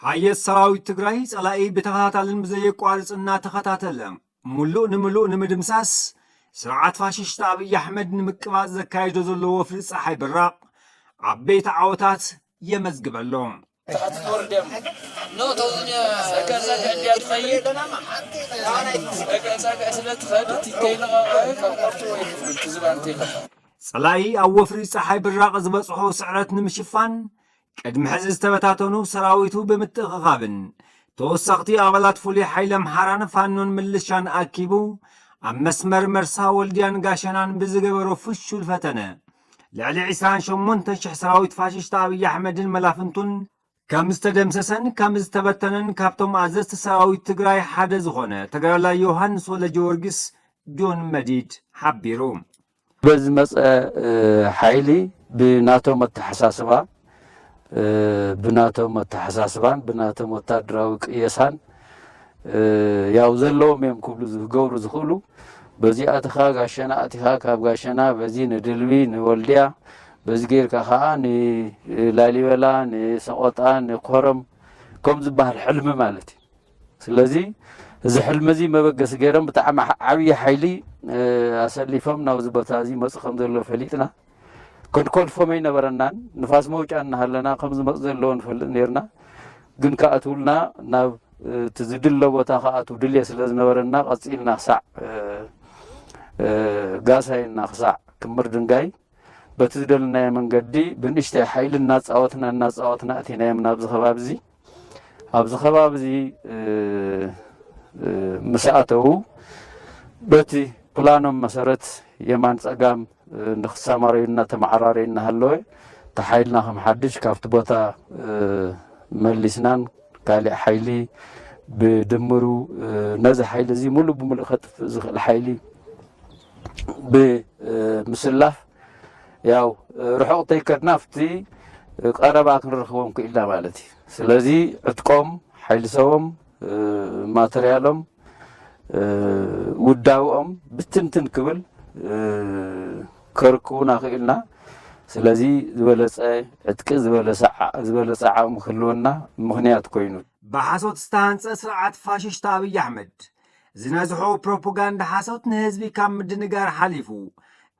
ሓየት ሰራዊት ትግራይ ጸላኢ ብተኸታታልን ብዘየቋርጽ እናተኸታተለ ሙሉእ ንምሉእ ንምድምሳስ ስርዓት ፋሽስት ኣብይ ኣሕመድ ንምቅባጽ ዘካየዶ ዘሎ ወፍሪ ፀሓይ ብራቕ ዓበይቲ ዓወታት የመዝግበሎም ፀላኢ ኣብ ወፍሪ ፀሓይ ብራቕ ዝበፅሖ ስዕረት ንምሽፋን ቅድሚ ሕዚ ዝተበታተኑ ሰራዊቱ ብምትእኽኻብን ተወሰኽቲ ኣባላት ፍሉይ ሓይሊ ኣምሓራን ፋኖን ምልሻን ኣኪቡ ኣብ መስመር መርሳ ወልድያን ጋሸናን ብዝገበሮ ፍሹል ፈተነ ልዕሊ ዕስራን ሸሞንተን ሽሕ ሰራዊት ፋሽስት ኣብይ ኣሕመድን መላፍንቱን ከም ዝተደምሰሰን ከም ዝተበተነን ካብቶም ኣዘዝቲ ሰራዊት ትግራይ ሓደ ዝኾነ ተጋዳላይ ዮሃንስ ወልደጀወርግስ፣ ጆን መዲድ፣ ሓቢሩ። በዝመፀ ሓይሊ ብናቶም ኣተሓሳስባ ብናቶም ኣተሓሳስባን ብናቶም ወታደራዊ ቅየሳን ያው ዘለዎም እዮም ክብሉ ዝገብሩ ዝኽእሉ በዚ ኣትኻ ጋሸና ኣትኻ ካብ ጋሸና በዚ ንድልቢ ንወልድያ በዚ ጌርካ ከዓ ንላሊበላ ንሰቆጣ ንኮረም ከም ዝበሃል ሕልሚ ማለት እዩ ስለዚ እዚ ሕልሚ እዚ መበገሲ ገይሮም ብጣዕሚ ዓብዪ ሓይሊ ኣሰሊፎም ናብዚ ቦታ እዚ ይመፁ ከም ዘለዎ ፈሊጥና ክንኮልፎም ኣይነበረናን ንፋስ መውጫ እናሃለና ከም ዝመፁ ዘለዎ ንፈልጥ ነርና ግን ክኣትውልና ናብ እቲ ዝድለ ቦታ ክኣትው ድልየ ስለ ዝነበረና ቀፂልና ክሳዕ ጋሳይና ክሳዕ ክምር ድንጋይ በቲ ዝደልናዮ መንገዲ ብንእሽተይ ሓይሊ እናፃወትና እናፃወትና እቲናዮም ናብዚ ከባቢ እዚ ኣብዚ ከባቢ እዚ ምስ ኣተዉ በቲ ፕላኖም መሰረት የማን ጸጋም ንክሰማረዩ እናተመዓራረዩ እናሃለወ እቲ ሓይልና ከም ሓድሽ ካብቲ ቦታ መሊስናን ካሊእ ሓይሊ ብድምሩ ነዚ ሓይሊ እዚ ሙሉእ ብሙሉእ ከጥፍእ ዝኽእል ሓይሊ ብምስላፍ ያው ርሑቕ ተይከድና ኣብቲ ቀረባ ክንረኽቦም ክኢልና ማለት እዩ ስለዚ ዕጥቆም ሓይሊ ሰቦም ማተርያሎም ውዳውኦም ብትንትን ክብል ከርክቡና ክኢልና ስለዚ ዝበለፀ ዕጥቂ ዝበለፀ ዓቕሚ ክህልወና ምኽንያት ኮይኑ ብሓሶት ዝተሃንፀ ስርዓት ፋሽስት ኣብይ ኣሕመድ ዝነዝሑ ፕሮፖጋንዳ ሓሶት ንህዝቢ ካብ ምድንጋር ሓሊፉ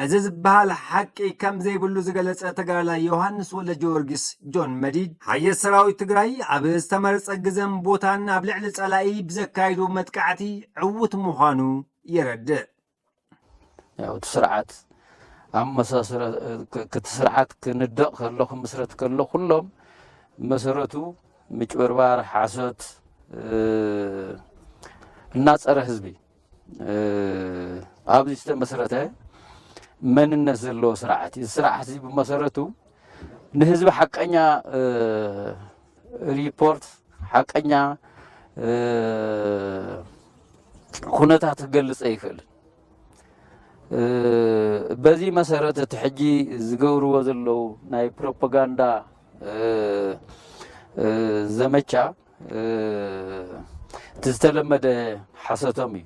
እዚ ዝበሃል ሓቂ ከም ዘይብሉ ዝገለጸ ተጋዳላይ ዮሃንስ ወልደጀወርጊስ ጆን መዲድ ሓየት ሰራዊት ትግራይ ኣብ ዝተመረጸ ግዘን ቦታን ኣብ ልዕሊ ጸላኢ ብዘካይዱ መጥቃዕቲ ዕዉት ምዃኑ የረድእ። ያው እቲ ስርዓት ኣመሳስረ ክቲ ስርዓት ክንደቕ ከሎ ክምስረት ከሎ ኩሎም መሰረቱ ምጭበርባር ሓሶት እና ፀረ ህዝቢ ኣብዚ ዝተመሰረተ መንነት ዘለዎ ስርዓት እዩ ስርዓት እዚ ብመሰረቱ ንህዝቢ ሓቀኛ ሪፖርት ሓቀኛ ኩነታት ክገልፅ ኣይክእልን። በዚ መሰረት እቲ ሕጂ ዝገብርዎ ዘለዉ ናይ ፕሮፓጋንዳ ዘመቻ እቲ ዝተለመደ ሓሰቶም እዩ።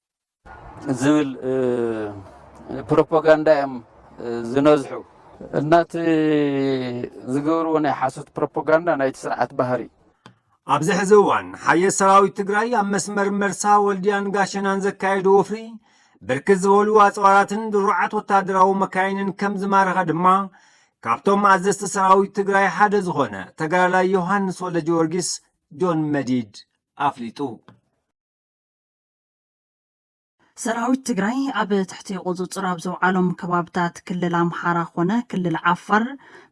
ዝብል ፕሮፓጋንዳ እዮም ዝነዝሑ እና እቲ ዝገብርዎ ናይ ሓሶት ፕሮፓጋንዳ ናይቲ ስርዓት ባህሪ እዩ። ኣብዚ ሕዚ እዋን ሓየት ሰራዊት ትግራይ ኣብ መስመር መርሳ ወልድያን ጋሸናን ዘካየዱ ወፍሪ ብርክት ዝበሉ ኣፅዋራትን ድሩዓት ወታደራዊ መካይንን ከም ዝማረኸ ድማ ካብቶም ኣዘዝቲ ሰራዊት ትግራይ ሓደ ዝኾነ ተጋዳላይ ዮሃንስ ወልደ ጊዮርጊስ ጆን መዲድ ኣፍሊጡ። ሰራዊት ትግራይ ኣብ ትሕቲ ቁፅፅር ኣብ ዘውዓሎም ከባብታት ክልል ኣምሓራ ኮነ ክልል ዓፋር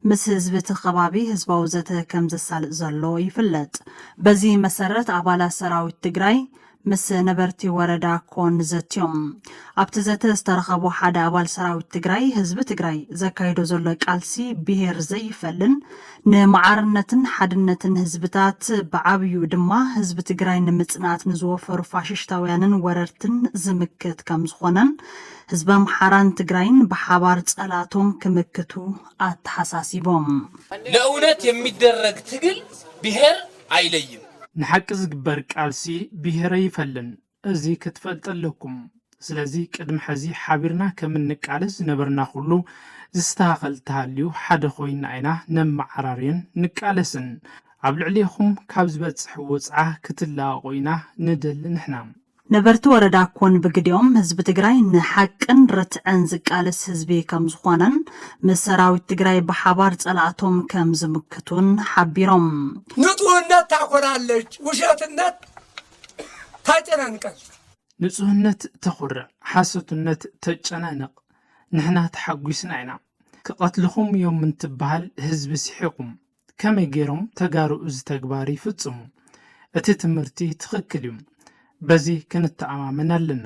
ምስ ህዝቢ እቲ ከባቢ ህዝባዊ ዘተ ከም ዘሳልጥ ዘሎ ይፍለጥ። በዚ መሰረት ኣባላት ሰራዊት ትግራይ ምስ ነበርቲ ወረዳ ኮን ዘትዮም። ኣብቲ ዘተ ዝተረኸቡ ሓደ ኣባል ሰራዊት ትግራይ ህዝቢ ትግራይ ዘካይዶ ዘሎ ቃልሲ ብሄር ዘይፈልን ንማዕርነትን ሓድነትን ህዝብታት ብዓብዩ ድማ ህዝቢ ትግራይ ንምፅናት ንዝወፈሩ ፋሽሽታውያንን ወረርትን ዝምክት ከም ዝኾነን ህዝቢ ኣምሓራን ትግራይን ብሓባር ፀላቶም ክምክቱ ኣተሓሳሲቦም። ለእውነት የሚደረግ ትግል ብሄር ኣይለይም። ንሓቂ ዝግበር ቃልሲ ብሄር ኣይፈልን። እዚ ክትፈልጡ ኣለኩም ስለዚ ቅድሚ ሐዚ ሓቢርና ከም እንቃለስ ዝነበርና ኩሉ ዝስተኻኸል ተሃልዩ ሓደ ኮይና ኢና ነመዓራርዮን ንቃለስን ኣብ ልዕሌኹም ካብ ዝበጽሕ ወጽዓ ክትላቀቁ ኢና ንደሊ ንሕና ነበርቲ ወረዳ ኮን ብግዲኦም ህዝቢ ትግራይ ንሓቅን ርትዕን ዝቃለስ ህዝቢ ከም ዝኾነን ምስ ሰራዊት ትግራይ ብሓባር ፀላእቶም ከም ዝምክቱን ሓቢሮም። ንፁህነት ታኮራለች ውሸትነት ታጨናንቃለች። ንጹህነት ተኹርዕ ሓሶትነት ተጨናንቕ ንሕና ተሓጒስና ኢና ክቐትልኹም እዮም እንትበሃል ህዝቢ ሲሒቑም ከመይ ጌሮም ተጋሩ እዚ ተግባር ይፍጽሙ እቲ ትምህርቲ ትኽክል እዩ በዚ ክንተኣማመን ኣለና።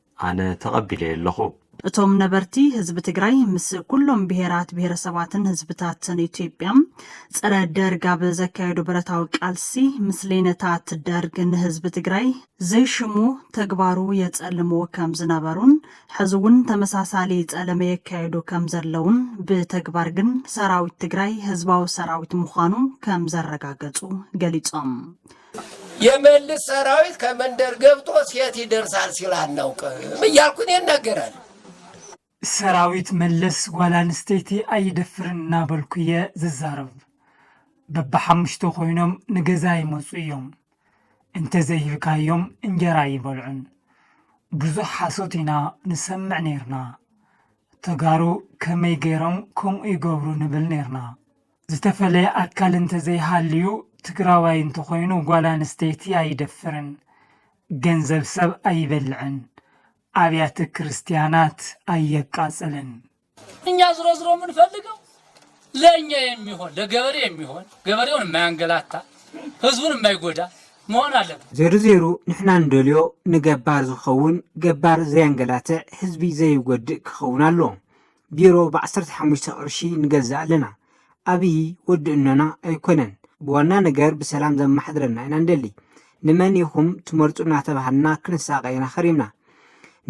ኣነ ተቐቢለዮ ኣለኹ። እቶም ነበርቲ ህዝቢ ትግራይ ምስ ኩሎም ብሄራት ብሄረሰባትን ህዝብታትን ኢትዮጵያ ፀረ ደርግ ኣብ ዘካየዱ ብረታዊ ቃልሲ ምስሌነታት ደርግ ንህዝቢ ትግራይ ዘይሽሙ ተግባሩ የፀልምዎ ከም ዝነበሩን ሕዚ እውን ተመሳሳሊ ፀለመ የካየዱ ከም ዘለውን ብተግባር ግን ሰራዊት ትግራይ ህዝባዊ ሰራዊት ምዃኑ ከም ዘረጋገፁ ገሊፆም። የመልስ ሰራዊት ከመንደር ገብቶ ሴት ይደርሳል ሲል አናውቅም እያልኩ እኔ እናገራለሁ። ሰራዊት መለስ ጓል ኣንስተይቲ ኣይደፍርን እናበልኩ እየ ዝዛረብ። በብሓሙሽተ ኮይኖም ንገዛ ይመፁ እዮም። እንተዘይሂብካዮም እንጀራ ኣይበልዑን። ብዙሕ ሓሶት ኢና ንሰምዕ ነይርና። ተጋሩ ከመይ ገይሮም ከምኡ ይገብሩ ንብል ነይርና። ዝተፈለየ ኣካል እንተዘይሃልዩ ትግራዋይ እንተኾይኑ ጓል ኣንስተይቲ ኣይደፍርን፣ ገንዘብ ሰብ ኣይበልዕን፣ ኣብያተ ክርስትያናት ኣየቃፅልን። እኛ ዝሮ ዝሮ የምንፈልገው ለእኛ የሚሆን ለገበሬ የሚሆን ገበሬውን የማያንገላታ ህዝቡን የማይጎዳ መሆን ኣለበት። ዜሩ ዜሩ ንሕና ንደልዮ ንገባር ዝኸውን ገባር ዘየንገላትዕ ህዝቢ ዘይጎድእ ክኸውን ኣለዎ። ቢሮ ብዓሰርተ ሓሙሽተ ቅርሺ ንገዝእ ኣለና ኣብይ ወዲ እኖና ኣይኮነን ብዋና ነገር ብሰላም ዘማሓድረና ኢና ንደሊ ንመን ኢኹም ትመርፁ እናተባሃልና ክንሳቀ ኢና ከሪምና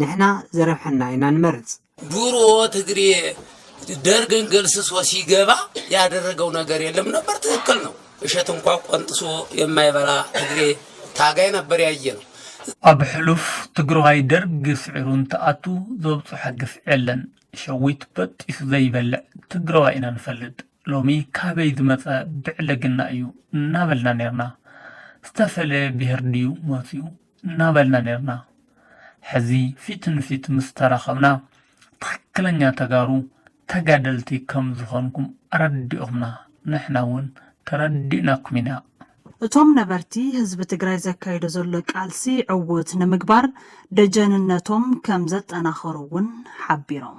ንሕና ዘረብሐና ኢና ንመርፅ። ድሮ ትግሬ ደርግን ገልስሶ ሲገባ ያደረገው ነገር የለም ነበር ትክክል ነው። እሸት እንኳ ቆንጥሶ የማይበላ ትግሬ ታጋይ ነበር ያየነው። ኣብ ሕሉፍ ትግረዋይ ደርግ ስዒሩ እንትኣቱ ዘብፅሖ ግፍዒ የለን ሸዊት በጢሱ ዘይበልዕ ትግረዋይ ኢና ንፈልጥ ሎሚ ካበይ ዝመፀ ብዕልግና እዩ እናበልና ነይርና ዝተፈለየ ብሄር ድዩ መፅዩ እናበልና ነይርና ሕዚ ፊት ንፊት ምስ ተራኸብና ትክክለኛ ተጋሩ ተጋደልቲ ከም ዝኾንኩም ኣረዲእኹምና ንሕና እውን ተረዲእናኩም ኢና። እቶም ነበርቲ ህዝቢ ትግራይ ዘካይዶ ዘሎ ቃልሲ ዕዉት ንምግባር ደጀንነቶም ከምዘጠናኸሩ እውን ሓቢሮም።